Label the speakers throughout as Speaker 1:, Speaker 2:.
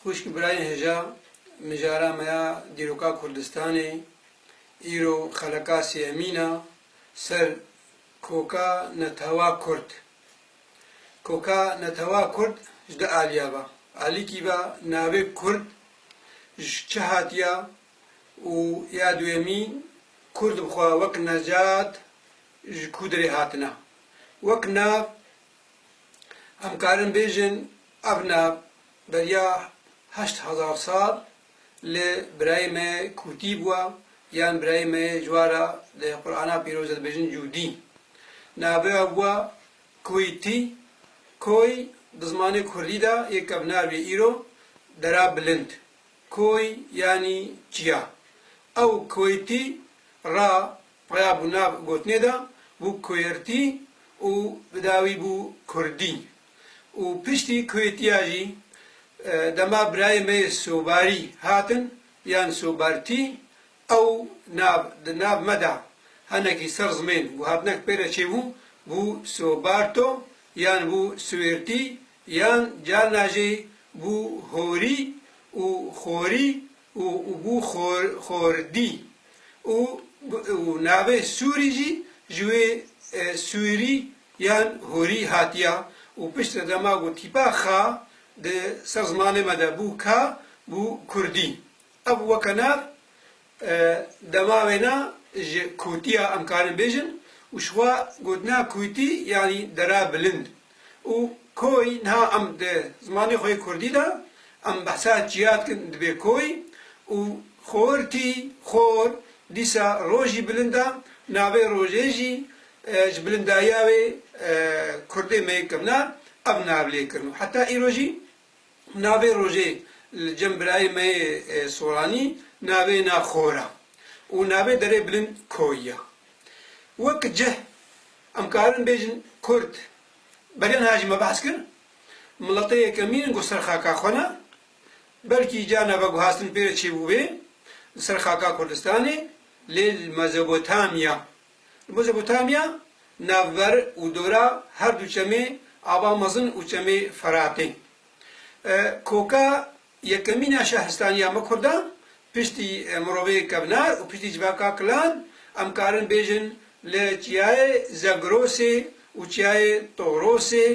Speaker 1: Xwişk birayên hija mijara me ya dîroka Kurdistanê, îro xeleka sêyemîn a ser Koka Netewa Kurd. Koka Netewa Kurd ji du aliya ve. Alîkî ve navê Kurd ji çi hatiya û ya duyemî Kurd bi xwe wek necat ji ku derê hatine. Wek nav Em karin bêjin ev ne beriya heşt hezar sal li birayê me kûtî bûe yan birayê me yê cwara di Qur'ana pîroz de dibêjin cûdî. Navê we Koytî, Koy di zimanê kurdî de yê kevnar bî îro dera bilind. Koy yanî çiya. Ew Koytî ra Raya bû nav gotinê de bû Kuêrtî û bi dawî bû Kurdî û piştî Kuêtiya jî dema birayê me yê Sobarî hatin yan Sobartî ew nav di nav me de henekî ser zimên guhatinek pê re çêbû bû Sobarto yan bû Suêrtî yan carna jî bû Horî û Xorî û bû xordî û û navê Sûrî jî ji wê Sûrî yan Hûrî hatiya û piştre de ma got tîpa Kha di ser zimanê me de bû Ka bû Kurdî. Ev weke nav dema wêna ji Kûtiya em karin bêjin û şiwa gotina Kûtî yanî dera bilind û koy niha em di zimanê xwe yê kurdî de em behsa çiya dikin dibê koy û xortî, xor, dîsa rojî bilind e, navê rojê jî ji bilindayiya wê kurdê me yê kevna ev navlêkirin û heta îro jî Navê rojê li cem birayê me yê soranî navê na xor e û navê derê bilind koyî ye. Wek cih em karin bêjin kurd beriya niha jî me behs kir miletê yekemîn in ku ser xaka xwe ne belkî ca nava guhastin pê re çêbûbê li ser xaka Kurdistanê lê li Mezopotamya Li Mezopotamya navber û dora her du çemê Ava Mezin û çemê Feratê. Koka yekemîn a şehistaniya me kurdan piştî mirovê kevnar û piştî civaka kilan em karin bêjin li çiyayê Zegrosê û çiyayê Torosê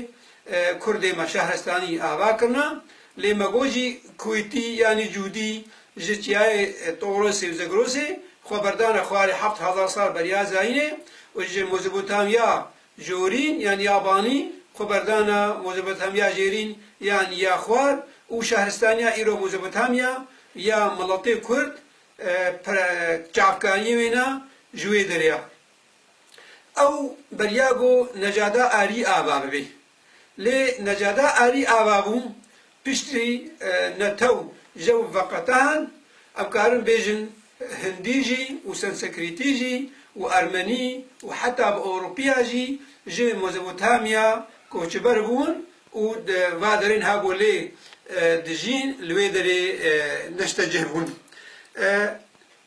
Speaker 1: kurdê me şehristanî ava kirina Lê me got jî Kuwêtî yanî Cûdî ji çiyayê Torosê û Zegrosê xwe berdane xwarê heft hezar sal beriya zayînê û ji Mozopotamya Jorîn yanî ya Banî xwe berdane Mozopotamya Jêrîn yanî ya Xwar û şehristaniya îro Mozopotamya ya miletê Kurd çavkaniyê wê ne ji wê derê ye. Ew beriya got Necada Arî ava bibê. Lê Necada Arî ava bû, piştî netew jew veqetan, em karin bêjin hindî jî û sansekrîtî jî û ermenî û heta bi ewropiya jî ji Mozebotamiya koçber bûn û di va derên habo lê dijîn li wê derê neşte cih bûn.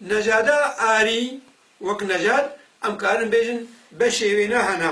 Speaker 1: Necada Arî wek Nejad em karin bêjin beşê wê ne hena.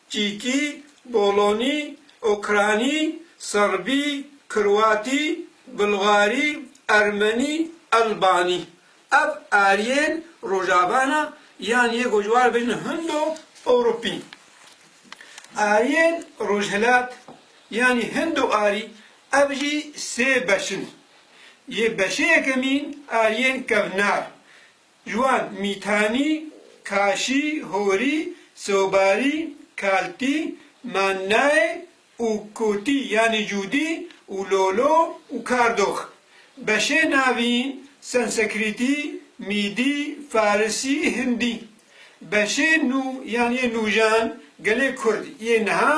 Speaker 1: Çîkî, Bolonî, Ûkranî, Serbî, Kroatî, Bulgarî, Ermenî, Elbanî. Ev eriyên Rojava ne yan yê ku ji wan re bêjin Hindo Ewropî. Eriyên Rojhilat yanî Hindo Arî ev jî sê beş in. Yê beşê yekemîn eriyên kevnar Ji wan, Mîtanî, Kaşî, Horî, Sobarî, Kaltî, Mannaê û Kotî yanî Cûdî û Lolo û Kardox. Beşê navî, Sensekrîtî, Mîdî, Farisî, Hindî. Beşê nû yanî yê nûjan gelê Kurd yê niha,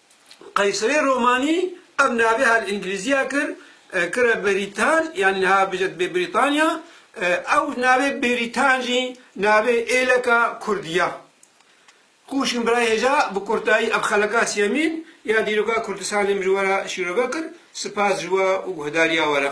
Speaker 1: Qeyserê romanî ev navê her li îngilîzî ya kir kire Beritan yanî niha bije dibê Britanya. Ew navê Beritan jî navê êleka kurdî ya. Xwûşin birayê hêja bi kurtayî ev xeleka siyemîn ya dîroka Kurdistanê min ji we re şîrove kir. Sipas ji we û guhdarîya we re.